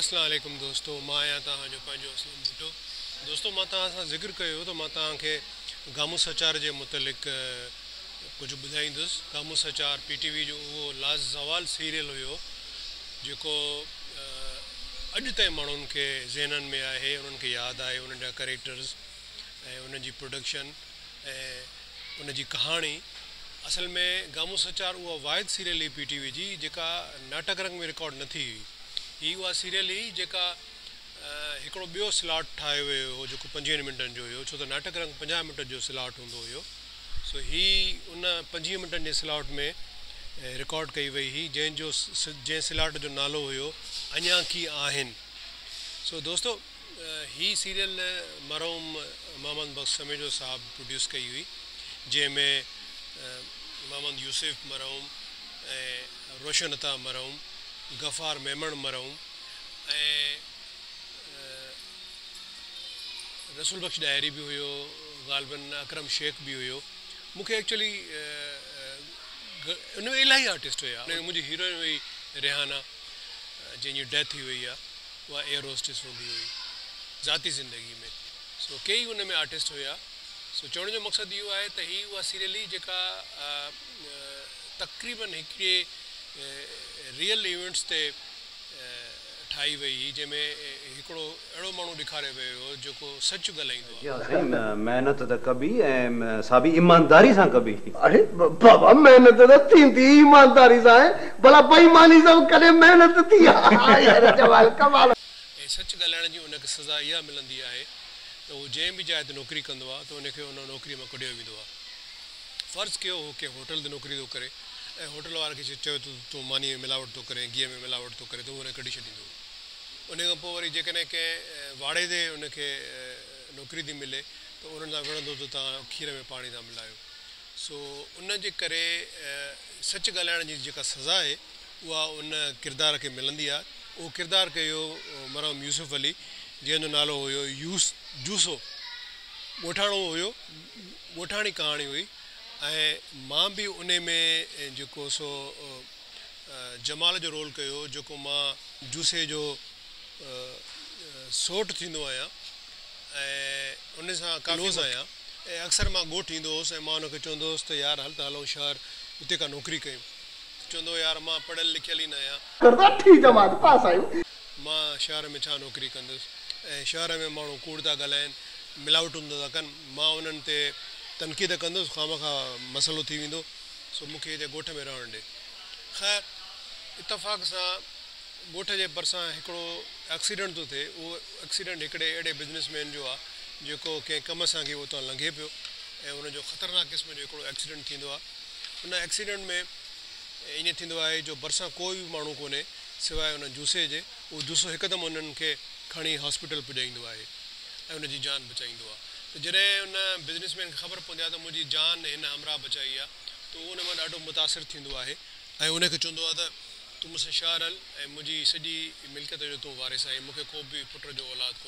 اسلام عليڪم دوستو مان آهيان توهان جو پنهنجو اسلم ڀٽو دوستو مان توهان سان ذڪر ڪيو هو ته مان توهان کي گامو سچار جي متعلق ڪجهه ٻڌائيندس گامو سچار پي ٽي وي جو اهو لازوال سيريل هيو جيڪو اڄ تائين ماڻهن کي ذهنن ۾ آهي انهن کي ياد آهي انهن جا ڪريڪٽرز ۽ انهن جي پروڊڪشن ۽ ان جي ڪهاڻي اصل ۾ گامون سچار اها واحد سيريل هئي پي ٽي وي جي جيڪا ناٽڪ رنگ ۾ رڪارڊ نه ٿي هئي. هي اها سيريل هئي جيڪا هڪڙو ٻيو سلاٽ ٺاهيو ويو هو جيڪو پنجويهن منٽن جو هيو ڇو ته ناٽڪ رنگ پنجاهه منٽن جو سلاٽ هوندو هيو سو هي ان پنجويهه منٽن جي سلاٽ ۾ رڪارڊ ڪئي وئي هئي جنهن جو جنهن سلاٽ جو نالو هيو اڃان ڪي آهن سو دوستو هي سيريل مرحوم محمد بخش سميجو صاحب پروڊيوس ڪئي هئي جنهن ۾ محمد يوسف مرحوم ۽ روشن عطا مرحوم، غفار ميمڻ مرحوم ۽ رسول بخش ڏاهري به هيو غالباً اڪرم شيخ به هيو مون کي ايڪچوئلي ان ۾ الاهي آرٽسٽ هيا ان ۾ منهنجي هيروئن هئي ريحانه جنهن جي ڊيٿ ٿي وئي آهي. اها ايئر هوسٽس هوندي هئي ذاتي زندگي ۾ سو ڪي ئي ان ۾ آرٽسٽ هيا سو چوڻ جو مقصد اهو آهي ته هي اها سيريل هئي جيڪا تقريبن هڪڙي ريئل ايونٽس تي ٺاهي وئي هئي جنهن ۾ هڪڙو اهڙو ماڻهو ڏيکاريو ويو هو جيڪو سچ ڳالهائيندو هو. جي ها سائين محنت ته ڪبي ۽ سا به ايمانداري سان ڪبي. اڙي بابا محنت ته ٿيندي ئي ايمانداري سان آهي ڀلا بيماني سان به ڪڏهن محنت ٿي آهي جمال ڪمال. ۽ سچ ڳالهائڻ جي ان کي سزا اها ملندي آهي ته هو جنهن به جاء تي نوڪري ڪندو آهي ته ان کي ان نوڪري مان ڪڍيو ويندو آهي فرض ڪيو هو ڪنهن هوٽل تي نوڪري ٿو ڪري ۽ هوٽل واري کي چيو ته تون مانيء ۾ ملاوٽ ٿو ڪرين گيهه ۾ ملاوٽ ٿو ڪرين ته هو ان کي ڪڍي ڇڏيندو. انهيء کان پوء وري جيڪڏهن ڪنهن واڙي تي ان کي نوڪري ٿي ملي ته انهن سان وڙهندو ته توهان کير ۾ پاڻي ٿا ملايو. سو ان جي ڪري سچ ڳالهائڻ جي جيڪا سزا آهي اها ان ڪردار کي ملندي آهي. اهو ڪردار ڪيو مرحوم يوسف علي جنهن جو نالو هيو يوس جوسو. ڳوٺاڻو هيو. ڳوٺاڻي ڪهاڻي هئي ۽ مان به انهيء ۾ جيڪو سو جمال جو رول ڪيو هو جيڪو مان جوسي جو سئوٽ ٿيندو آهيان ۽ ان سان ڪافي ڪلوز آهيان ۽ اڪثر مان ڳوٺ ايندو هوس ۽ مان ان کي چوندو هوس ته يار هل ته هلون شهر اتي ڪا نوڪري ڪيون ته چوندو هو يار مان پڙهيل لکيل ئي نه آهيان. ڪراچي جماعت پاس آهيون. مان شهر ۾ ڇا نوڪري ڪندس ۽ شهر ۾ ماڻهو ڪوڙ ٿا ڳالهائين ملاوٽون ٿا ڪن مان انهن تي تنقيد ڪندس خامخواه مسئلو ٿي ويندو. سو مون کي هتي ڳوٺ ۾ رهڻ ڏي. خير اتفاق سان ڳوٺ جي ڀرسان هڪڙو ايڪسيڊنٽ ٿو ٿئي. اهو ايڪسيڊنٽ هڪڙي اهڙي بزنس مين جو آ، جيڪو ڪنهن ڪم سان ڪي اتان لنگهي پيو ۽ ان جو خطرناڪ قسم جو هڪڙو ايڪسيڊنٽ ٿيندو آ. ان ايڪسيڊنٽ ۾ ائين ٿيندو آهي جو ڀرسان ڪو به ماڻهو ڪونهي سواء ان جوسي جي. اهو جوسو هڪدم انهن کي کڻي هاسپيٽل پڄائيندو آهي ۽ ان جي جان بچائيندو آهي ته جڏهن ان بزنس مين کي خبر پوندي آهي ته منهنجي جان هن همراهه بچائي آهي ته اهو ان مان ڏاڍو متاثر ٿيندو آهي ۽ ان کي چوندو آهي ته تون مون سان شهر هل ۽ منهنجي سڄي ملڪيت جو تون وارث آهين مون کي ڪو به پٽ جو اولاد ڪونهي.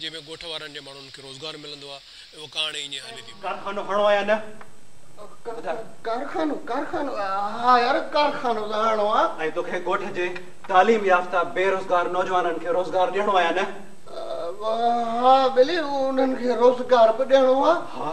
جنهن ۾ ڳوٺ وارن جي ماڻهن کي روزگار ملندو آهي ۽ اها ڪهاڻي ائين ئي هلي ٿي پئي. ڪارخانو هڻو آ يا نه ٻڌاء. ڪارخانو ڪارخانو ها يار ڪارخانو ته هڻو آ. ۽ توکي ڳوٺ جي تعليم يافته بي روزگار نوجوانن کي روزگار ڏيڻو آ يا نه. ها ٻلي انهن کي روزگار به ڏيڻو آ. ها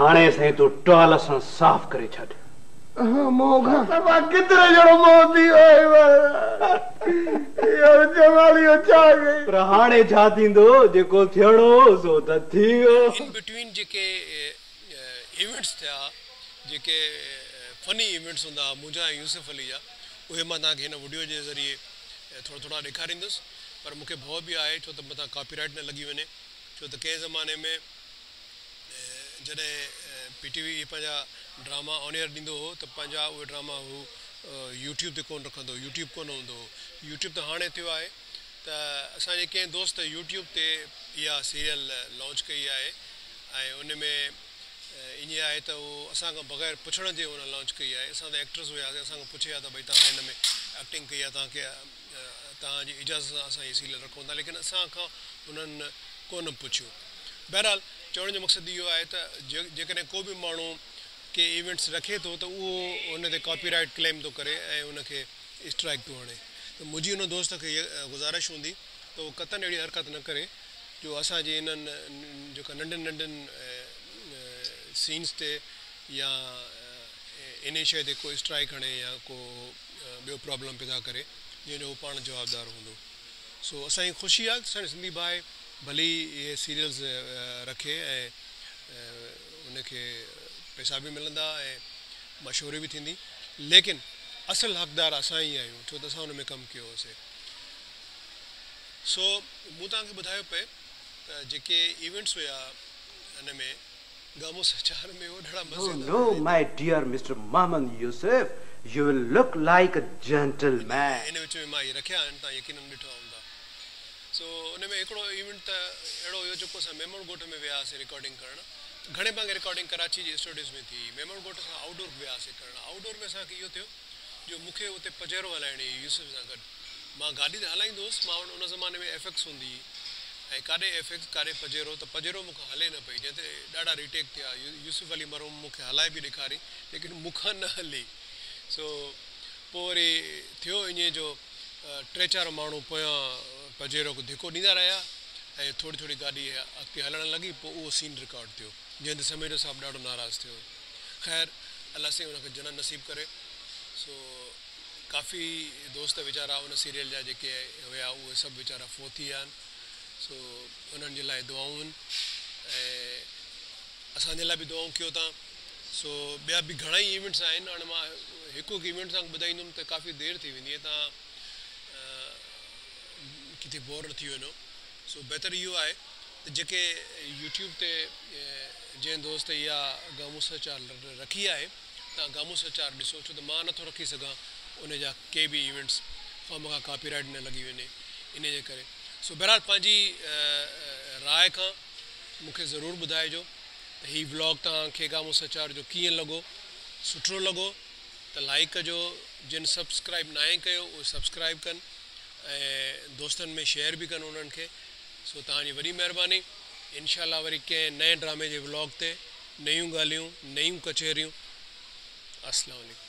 هاڻي سائين تون ٽال سان صاف ڪري ڇڏ. مان ڪيترو جهڙو مئو ٿي ويو آهي مهاراج. اها جمالي اچاء گئي. پر هاڻي ڇا ٿيندو جيڪو ٿيڻو هو سو ته ٿي ويو. ان بٽوين جيڪي ايونٽس ٿيا جيڪي فني ايونٽس هوندا منهنجا ۽ يوسف علي جا اهي مان توهان کي هن وڊيو جي ذريعي ٿورا ٿورا ڏيکاريندس پر مون کي ڀؤ به آهي ڇو ته مٿان ڪاپي رائيٽ نه لڳي وڃي ڇو ته ڪنهن زماني ۾ جڏهن پي ٽي وي پنهنجا ڊراما آن ايئر ڏيندو هو ته پنهنجا اهي ڊراما هو يوٽيوب تي ڪونه رکندو هو يوٽيوب ڪونه هوندو هو يوٽيوب ته هاڻي ٿيو آهي ته اسان جي ڪنهن دوست يوٽيوب تي اها سيريل لانچ ڪئي آهي ۽ ان ۾ ائين آهي ته هو اسان کان بغير پڇڻ جي هن لانچ ڪئي آهي. اسان ته ايڪٽرز هياسين اسان کان پڇي ها ته ڀئي توهان هن ۾ ايڪٽنگ ڪئي آهي توهان کي توهان جي اجازت سان اسان هي سيريل رکون ٿا ليڪن اسان کان هنن ڪونه پڇيو. بهرحال چوڻ جو مقصد اهو آهي ته جيڪڏهن ڪو به ماڻهو ڪي ايونٽس رکي ٿو ته اهو ان تي ڪاپي رائيٽ ڪليم ٿو ڪري ۽ ان کي اسٽرائيڪ ٿو هڻي ته منهنجي ان دوست کي هيء گذارش هوندي ته هو قطعن اهڙي حرڪت نه ڪري. جو اسان جي انهن جيڪا ننڍن ننڍن سينس تي يا انهي شيء تي ڪو اسٽرائڪ هڻي يا ڪو ٻيو پرابلم پيدا ڪري جنهن جو هو پاڻ جوابدار هوندو سو اسان کي خوشي آهي ته اسان جو سنڌي ڀاء ڀلي ئي اهي سيريلز رکي ۽ ان کي پئسا به ملندا ۽ مشهوري به ٿيندي ليڪن اصل حقدار اسان ئي آهيون ڇو ته اسان ان ۾ ڪم ڪيو هوسي. سو مون توهان کي ٻڌايو پئي ته جيڪي ايونٽس هيا ان ۾ گامون سچار ۾ هو ڏاڍا مزيدار هيا no no my dear mister Muhammad Yusuf you will look like a gentleman. ان وچ ۾ مان اهي رکيا آهن توهان يقينن ڏٺا هوندا سو ان ۾ هڪڙو ايونٽ ته اهڙو هيو جيڪو اسان ميمڻ ڳوٺ ۾ ويا هئاسي رڪارڊنگ ڪرڻ گهڻي ڀاڱي رڪارڊنگ ڪراچي جي اسٽوڊيوز ۾ ٿي ميمڻ ڳوٺ کان آئوٽ ڊور به ويا هئاسي ڪرڻ آئوٽ ڊور ۾ اسان کي اهو ٿيو جو مون کي اتي پجيرو هلائڻي هئي يوسف سان گڏ. مان گاڏي ته هلائيندو هوس، مان وٽ ان زماني ۾ ايف ايڪس هوندي هئي ۽ ڪاڏي ايف ايڪس ڪاڏي پجيرو ته پجيرو مون کان هلي نه پئي جنهن تي ڏاڍا ري ٽيڪ ٿيا. يوسف علي مرحوم مون کي هلائي به ڏيکاري ليڪن مون کان نه هلي سو پوء وري ٿيو ائين جو ٽي چار ماڻهو پويان پجيرو کي ڌڪو ڏيندا رهيا ۽ ٿوري ٿوري گاڏي اڳتي هلڻ لڳي پوء اهو سين رڪارڊ ٿيو. جنهن تي سميڊو صاحب ڏاڍو ناراض ٿيو. خير الله سائين ان کي جنت نصيب ڪري. سو ڪافي دوست ويچارا ان سيريل جا جيڪي هيا اهي سڀ ويچارا فوت ٿي ويا آهن. سو انهن جي لاء دعائون هن ۽ اسان جي لاء به دعائون ڪيو تان. سو ٻيا به گهڻا ئي ايونٽس آهن هاڻي مان هڪ هڪ ايونٽ تان ٻڌائيندم ته ڪافي دير ٿي ويندي ۽ تان ڪٿي بور نه ٿي وڃو. سو بهتر اهو آهي ته جيڪي يوٽيوب تي جنهن دوست اها گامون سرچار رکي آهي تان گامون سرچار ڏسو ڇو ته مان نه ٿو رکي سگهان ان جا ڪي به ايونٽس خواهمخواه ڪاپي رائيٽ نه لڳي وڃي انهي جي ڪري سو بهرحال پنهنجي راء کان مون کي ضرور ٻڌائجو ته هي ولاگ توهان کي گامون سرچار جو ڪيئن لڳو سٺو لڳو ته لائيڪ ڪجو جن سبسڪرائيب ناهي ڪيو اهي سبسڪرائيب ڪن ۽ دوستن ۾ شيئر به ڪن انهن کي سو توهان جي وڏي مهرباني انشاء الله وري ڪنهن نئين ڊرامي جي ولاگ تي نيون ڳالهيون نيون ڪچهريون السلام عليڪم.